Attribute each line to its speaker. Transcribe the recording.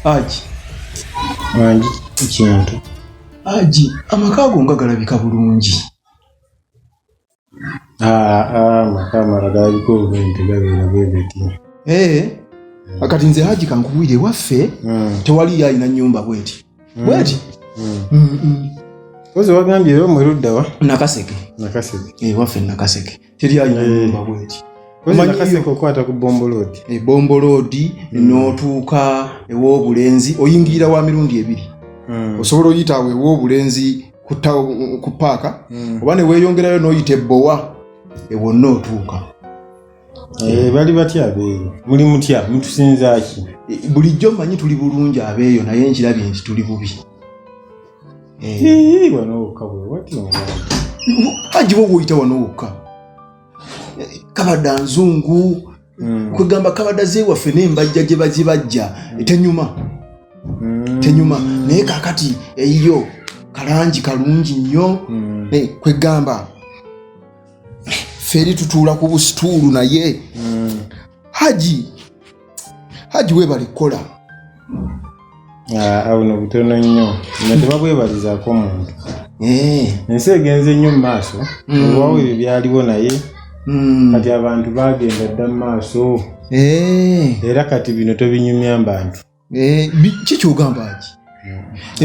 Speaker 1: Aji
Speaker 2: mangi kintu aji
Speaker 1: amaka ago nga galabika bulungi
Speaker 2: ah, ah, amaka amala galabika obulungi tegabeera bwe biti eh, hmm. kati
Speaker 1: nze haji kankubuire ewaffe hmm. tewaliyo alina nyumba bweti hmm. bweti
Speaker 2: ozi wagambye era omweruddawa nakaseke
Speaker 1: nakaseke ewaffe eh, nakaseke teri alina eh. nyumba bweti
Speaker 2: okwata ku bomboloodi ebomboloodi
Speaker 1: eh, hmm. n'otuuka ew'obulenzi oyingirira wa mirundi ebiri hmm. osobola oyita awo ew'obulenzi ku paaka hmm. oba ne weeyongerayo n'oyita ebbowa ewonna otuuka Eh,
Speaker 2: bali batya abeeyo muli mutya mutusinzaki eh, bulijjo manyi
Speaker 1: tuli bulungi abeeyo naye nkirabye nti tuli bubi Eh.
Speaker 2: wano wokka
Speaker 1: agiba oguyita wano wokka kabada nzungu hmm. kwegamba kabada zewaffe nembajja gyebagibajja hmm. tenyuma hmm. tenyuma naye kakati eyiyo kalangi kalungi nnyo eh, kwegamba feri tutuula ku busituulu naye haji haji webale kukola ah,
Speaker 2: abuno butono nnyo nga tebabwebalizaako omuntu eh. ensi egenze nnyo mu maaso hmm. owawo ebyo byaliwo naye hmm. kati abantu bagenda dda mu maaso eh. era kati
Speaker 1: bino tobinyumya
Speaker 2: mbantu kikyogamba ki